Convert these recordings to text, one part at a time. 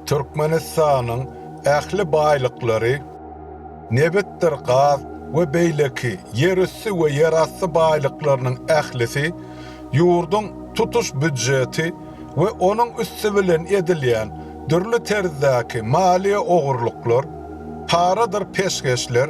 Türkmenistanyň ähli baýlyklary, nebitdir gaz we beýleki ýerüsti we ýerasty baýlyklarynyň ählisi ýurduň tutuş býujeti we onuň üsti bilen edilýän dürli terzdäki maliýe ogurlyklar, paradyr peşgeşler,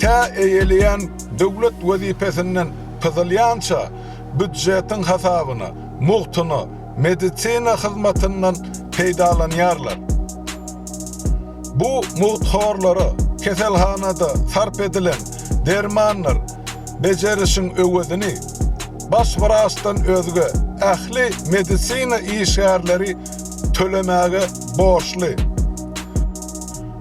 tä eýeleýän döwlet wezipesinden pyzylýança býudjetiň hasabyna, mugtuna, medisina hyzmatyndan peýdalanýarlar. Bu mugthorlara keselhanada sarp edilen dermanlar bejerişiň öwezini baş wraçdan özge ähli medisina işgärleri tölemäge borçly.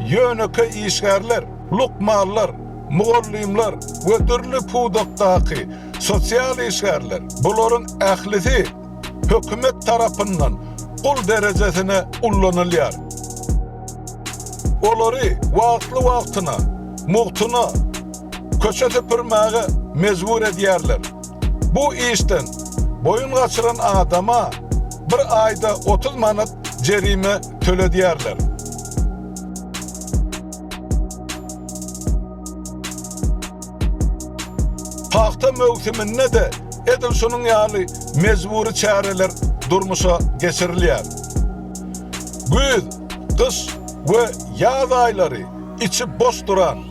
ýönekeý işgärler, lukmanlar, mugallymlar we dürli pudakdaky sosial işgärler, bularyň ählisi hökümet tarapyndan gul derejesine ullanylýar. Olary wagtly-wagtyna mugtuna köçe süpürmäge mejbur edýärler. Bu işden boýun gaçyran adama bir aýda otuz manat jerime töledýärler. Pagta möwsüminde-de edil şunuň ýaly mejbury çäreler durmuşa geçirilýär. Güýz, gyş we ýaz aýlary içi boş duran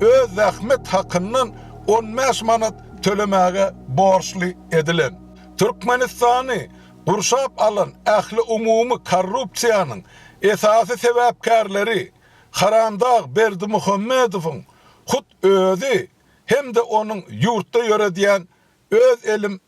öz zähmet hakyndan on bäş manat tölemäge borçly edilen. Türkmenistany gurşap alan ähliumumy korrupsiýanyň esasy sebäpkärleri haramdag Berdimuhamedowyň hut özi hem-de onuň ýurtda ýöredýän öz elim